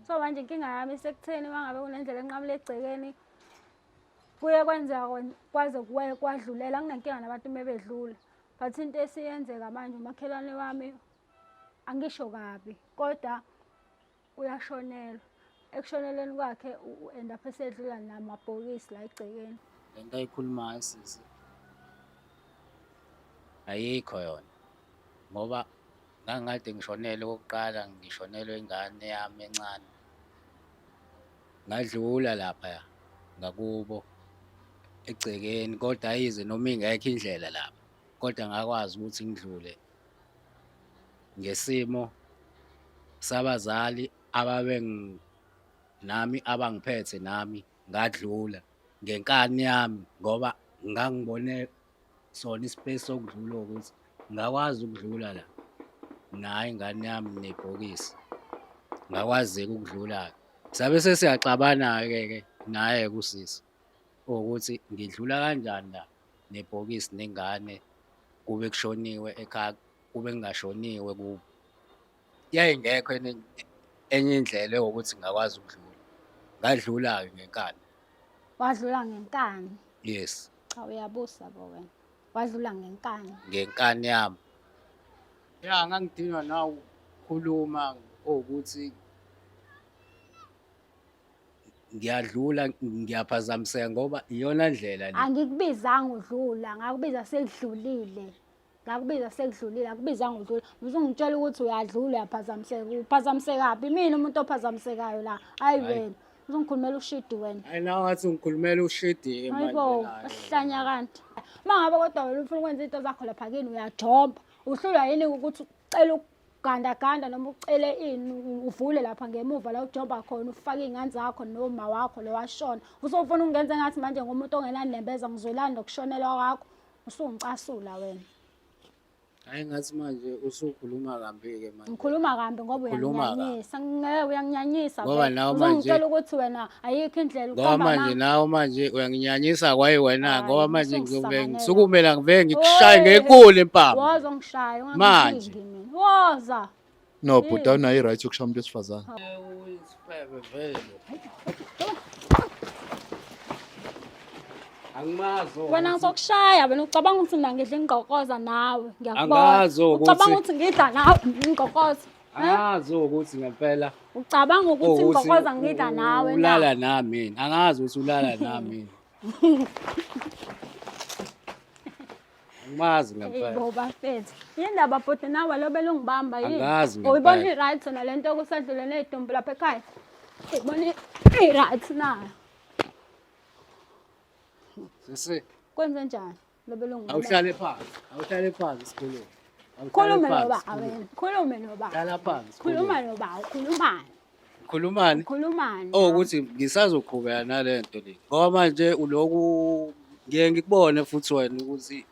so manje inkinga yami isekutheni uma ngabe kunendlela enqamula egcekeni kuye kwenzeka kwaze kwadlulela kunenkinga nabantu uma bedlula but into esiyenzeka manje umakhelwane wami angisho kabi kodwa uyashonelwa ekushoneleni kwakhe u-end up esedlula namabhokisi la egcekeni le nto ayikhulumayo sisi ayikho yona ngoba Ngangikade ngishonelwe okokuqala ngishonelwe ingane yami encane. Ngadlula laphaya ngakubo egcekeni kodwa ayize noma ingekho indlela lapha kodwa ngakwazi ukuthi ngidlule ngesimo sabazali ababe nami abangiphethe nami ngadlula ngenkani yami ngoba ngangibone sona ispace sokudlula ukuthi ngakwazi ukudlula la naye ingane yami nebhokisi ngakwazeki ukudlula-ke sabe sesiyaxabana-ke ke naye kusisi ukuthi ngidlula kanjani la nebhokisi nengane kube kushoniwe ekhaya kube kungashoniwe kubo yayingekho enye enye indlela ewukuthi ngingakwazi ukudlula ngadlula-ke ngenkani wadlula ngenkani yes cha uyabusa bo wena wadlula ngenkani ngenkani yami ya ngangidinwa nawu khuluma ukuthi ngiyadlula ngiyaphazamiseka ngoba iyona ndlela le angikubizanga udlula ngakubiza sekudlulile ngakubiza sekudlulile akubizanga udlula usungitshela ukuthi uyadlula uyaphazamiseka uphazamisekaphi mina umuntu ophazamisekayo la hayi wena uzongikhulumela ushidi wena hayi nawe ngathi ungikhulumela ushidi hayibo uhlanya kanti uma ngabe kodwa wena ufuna ukwenza into zakho lapha kini uyajomba uhlulwa yini ukuthi ucela ukugandaganda noma ucele ini uvule lapha ngemuva la ujomba khona ufake iy'ngane zakho noma wakho lowashona usofuna ukungenza engathi manje ngomuntu ongenanembeza ngizwelani nokushonelwa kwakho Usungicasula wena. Hayi ngathi manje usukhuluma kambi-ke manje. Ngikhuluma kambi ngoba Ukhuluma kabi. uyangnyanyisa. Ngeke uyanginyanyisa. Ngoba vele. nawe manje- Uzongitshela ukuthi wena ayikho indlela ngoba ukuhamba manje nami. nawe manje uyanginyanyisa kwaye wena Hayi, ngoba manje ngiyobe usungisanganela. ngisukumela ngivele ngikushaye Oy, ngenkulu impama Woza ungishaya Manje. ungangilingi mina. Woza. No, bhuti hmm. awunayo i-right yokushaya umuntu wesifazane. Angimazi. Wena ngizokushaya wena ucabanga ukuthi mina ngidla ingqokoza nawe ngiyakubona. Angazi ukuthi ucabanga ukuthi ngidla nawe ingqokoza. Angazi ukuthi ngempela. Ucabanga ukuthi ingqokoza ngidla nawe na? Ulala nami mina. Angazi ukuthi ulala nami mina. Angimazi ngampela. Bo bafethu. Yindaba bhuti nawe lo belungibamba yini? Angazi ngempela. Uyibona i-right na le nto okusadlule ney'dumbu lapha ekhaya? Uyibona i-right na? Sisi, Kwenze njani? Lobelungu. Awuhlale phansi. Awuhlale phansi sikhulume. Khulume noba awena. Khulume noba. Hlala phansi. Khuluma noba, ukhulumani. Khulumani. Khulumani. Oh ukuthi ngisazoqhubeka nalento le. Ngoba manje uloku ngiye ngikubone futhi wena ukuthi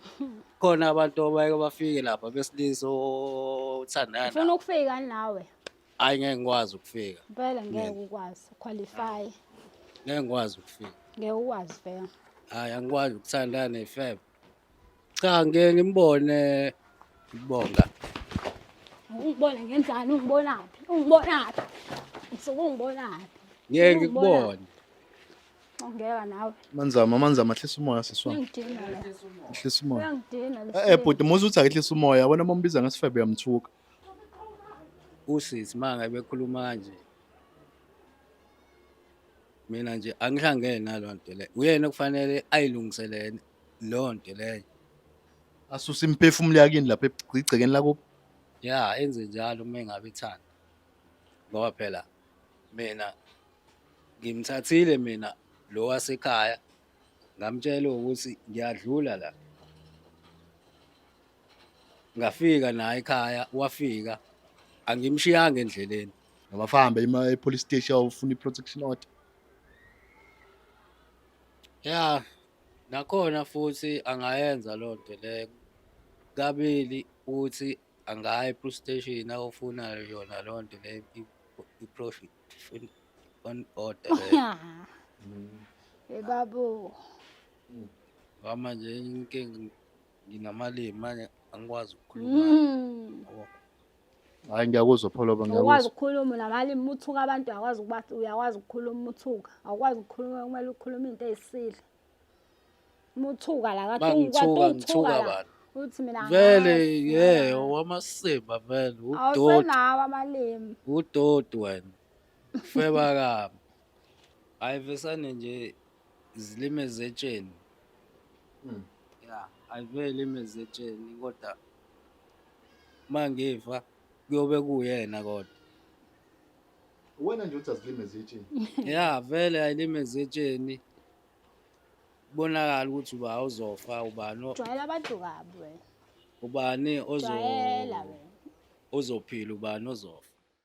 khona abantu abayeke bafike lapha besilisa othandana. Ufuna ukufika nawe. Hayi ngeke ngikwazi ukufika. Vele ngeke ukwazi qualify. Ngeke ngikwazi ukufika. Ngeke ukwazi vele. Hayi angikwazi ukuthandana nefebe. Cha ngeke ngimbone ngibonga. Ungibona ngenzani ungibonaphi? Ungibonaphi? Ngisuke ungibonaphi? Ngeke ngikubone. Ongeka nawe. Manzama manzama hlisa umoya siswa. Uyangidina la. Hlisa umoya. Uyangidina Eh eh, lesi. bhuti muzi uthi akehlisa umoya wena mombiza ngesifebe uyamthuka. usisi manga bekhuluma kanje mina nje angihlangene naloo nto leyo uyena okufanele ayilungiselele loo nto leyo asuse imphefumulo yakini lapha egcekeni lakubo ya enze njalo uma engabe ethanda ngoba phela mina ngimthathile mina lo wasekhaya ngamtshela ukuthi ngiyadlula la ngafika naye ekhaya wafika angimshiyanga endleleni abafahambe ima e-police station awufuna i-protection order ya nakhona futhi angayenza loo nto leyo kabili uthi angayi e-police station awufuna yona loo nto leyo i-profit on order leyo Hey babu. ngoba manje inkinga nginamalimi manje angikwazi ukukhuluma Mm. yabo. hayi ngiyakuzwa pholoba Ukwazi ngiyakuzwa ukukhuluma namalimi uma uthuka abantu uyakwazi ukuba uyakwazi ukukhuluma uma uthuka. Awukwazi ukukhuluma kumele ukhulume into eyisidla. Uma uthuka la kade Uma ngithuka, uthuka ngithuka la. bani? Uthi mina vele angazi, ye mina. owamasimba vele udoti Awusenawo amalimi. udoti wena feba kami ayivesane nje zilime zetsheni mm. ya ayivele lime zetsheni kodwa uma ngifa kuyobe kuyena kodwa wena nje uthi azilime zetsheni ya vele ayilime zetsheni kubonakala ukuthi uba uzofa ubani jwayela abantu kabi wena ubani ozo ozophila ubani ozofa